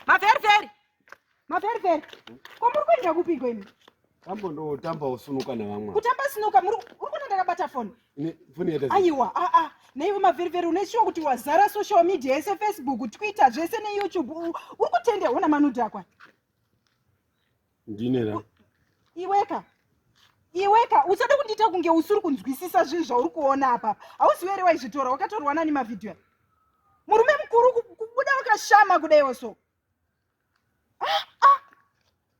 Maferiferi. Maferiferi. Ko muri kuenda kupi kweni? Tambo ndo tamba usunuka na vamwe. Kutamba sunuka muri uri kuna ndakabata phone. Ni phone yeta. Aiwa, a a. Nei maferiferi une sure kuti wazara social media yese Facebook, Twitter, zvese ne YouTube. Uri kutende hona manuda kwa. ndinera iweka iweka usada kundiita kunge usiri kunzwisisa zvinhu zvauri kuona apa hauziwe ere waizvitora wakatorwa nani mavhidhiyo murume mukuru kubuda wakashama kudaiwo so ah, ah.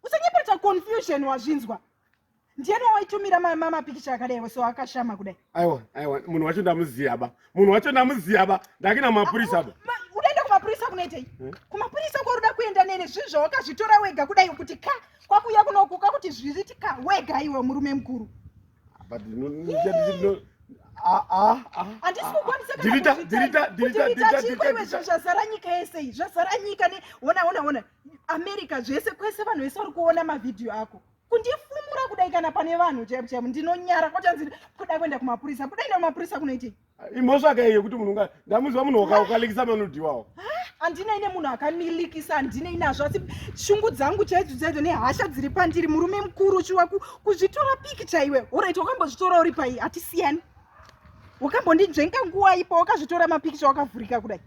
usanyepereta confusion wazvinzwa ndiyani wawaitumira mamapikicha akadai wese wakashama kudai aiwa aiwa munhu wacho ndamuziva ba munhu wacho ndamuziva ba ndakina mapurisa ba udaenda kumapurisa kunoitei hmm? kumapurisa kwaruda kuenda nene zvinhu zvawakazvitora wega kudai kuti ka kwakuuya kunoku kwakuti zviziti ka wega iwe murume mukuru zvazara nyika yese iyi zvazara nyika ne ona ona ona america zvese kwese vanhu vese vari kuona mavhidhiyo ako kundifumura kudai kana pane vanhu chaipo chaipo ndinonyara kochanzi kuda kuenda kumapurisa kuda enda kumapurisa kunoitei imhosva kai yekuti munhu unga ndamuziva munhu wakaukalikisa manodiwawo handina ine munhu akamilikisa handina inazvo asi shungu dzangu chaidzo chaidzo nehasha dziri pandiri murume mukuru uchiwa kuzvitora piki chaiwe orit wakambozvitora uri pai hatisiyani wakambondinzvenga nguwa ipo wakazvitora mapikicha wakavhurika kudai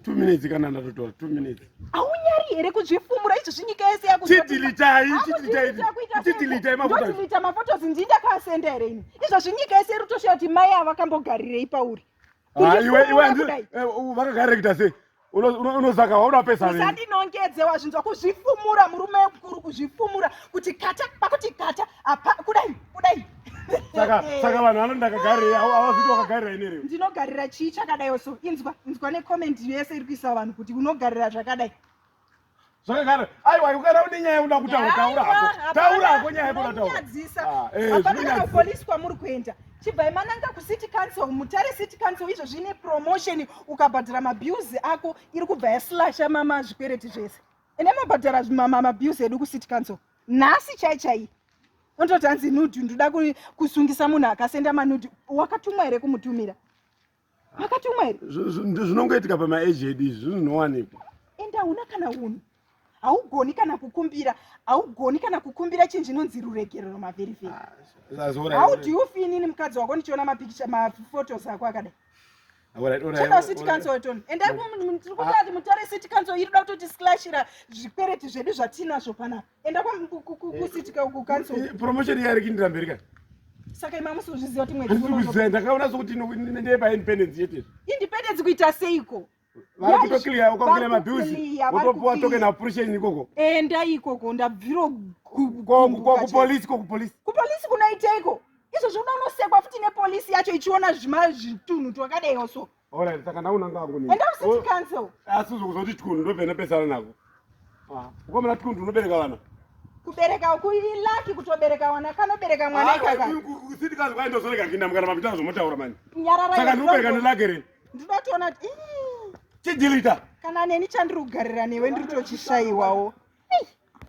two minutes kana ndatotora two minutes aunyari here kuzvifumura izvo zvinyika yese yakutidilitai mafotos ndii ndakasenda here ini izvo zvinyika yese iri kutoshuya kuti mai ava vakambogarirei pauri vakagarira kuita sei unozaka wauda pesa usandinongedze wazvinzwa kuzvifumura murume mukuru kuzvifumura kuti kata pakuti kata apa kudai kudai saka saka vanhu vano ndakagarira awazviti wakagarira ine reo ndinogarira chii chakadai so inzwa inzwa necomment yese iri kuisa vanhu kuti unogarira zvakadai zvakagara aiwa ukana une nyaya uda kutaura taura hako taura hako nyaya yakoda taurapolisi ah, eh, kwamuri kuenda chibvai mananga kucity council mutare city council izvo zvine promotion ukabhadhara mabuse ako iri kubva yaslasha mama zvikwereti zvese ende mabhadhara mabuse edu kucity council nhasi chai chai Unototi hanzi nudhi ndoda kusungisa munhu akasenda manudhi. Wakatumwa here kumutumira? Wakatumwa here? Zvinongoitika pamaeji edu izvi zvinowanikwa. Ende hauna kana unhu. Haugoni kana kukumbira, haugoni kana kukumbira chinhu chinonzi ruregerero mavheri vheri. Ah, How do you feel nini mukadzi wako ndichiona mapikicha maphotos ako akadai? chinoda city council toni endai tiri kutati mutare city council iri kuda kutoti slashira zvikwereti zvedu zvatinazvo panapa enda kwakusitika uku cancel eh, promotion yaari kindira mberi ka saka ima musi uzviziva kuti mwedzi ndakaona sokuti ndeye paindependence yete independence kuita seiko vari kutoclear ukakira mabills wotopuwa token appreciation ikoko enda ikoko ndabviro kupolice ko kupolice kupolice kunoiteiko izvo zvoda unosekwa futi nepolice yacho ichiona zvitunhu twakadaiwo so Alright, saka ndaona ngangu nini. Enda usiti oh, cancel. Asi uzokuzoti tkundu ndovena pesana nako. Ah, ukamana tkundu unobereka vana. Kubereka uku ilaki kutobereka wana kanobereka mwana ah, ikaka. Kusiti kazi kwaenda zoreka kinda mukana mapita zvomotaura mani. Nyarara. Saka ndinobereka nelaki re. Ndinotoona kuti chidilita. Kana neni chandiri kugarira newe ndiri tochishaiwawo.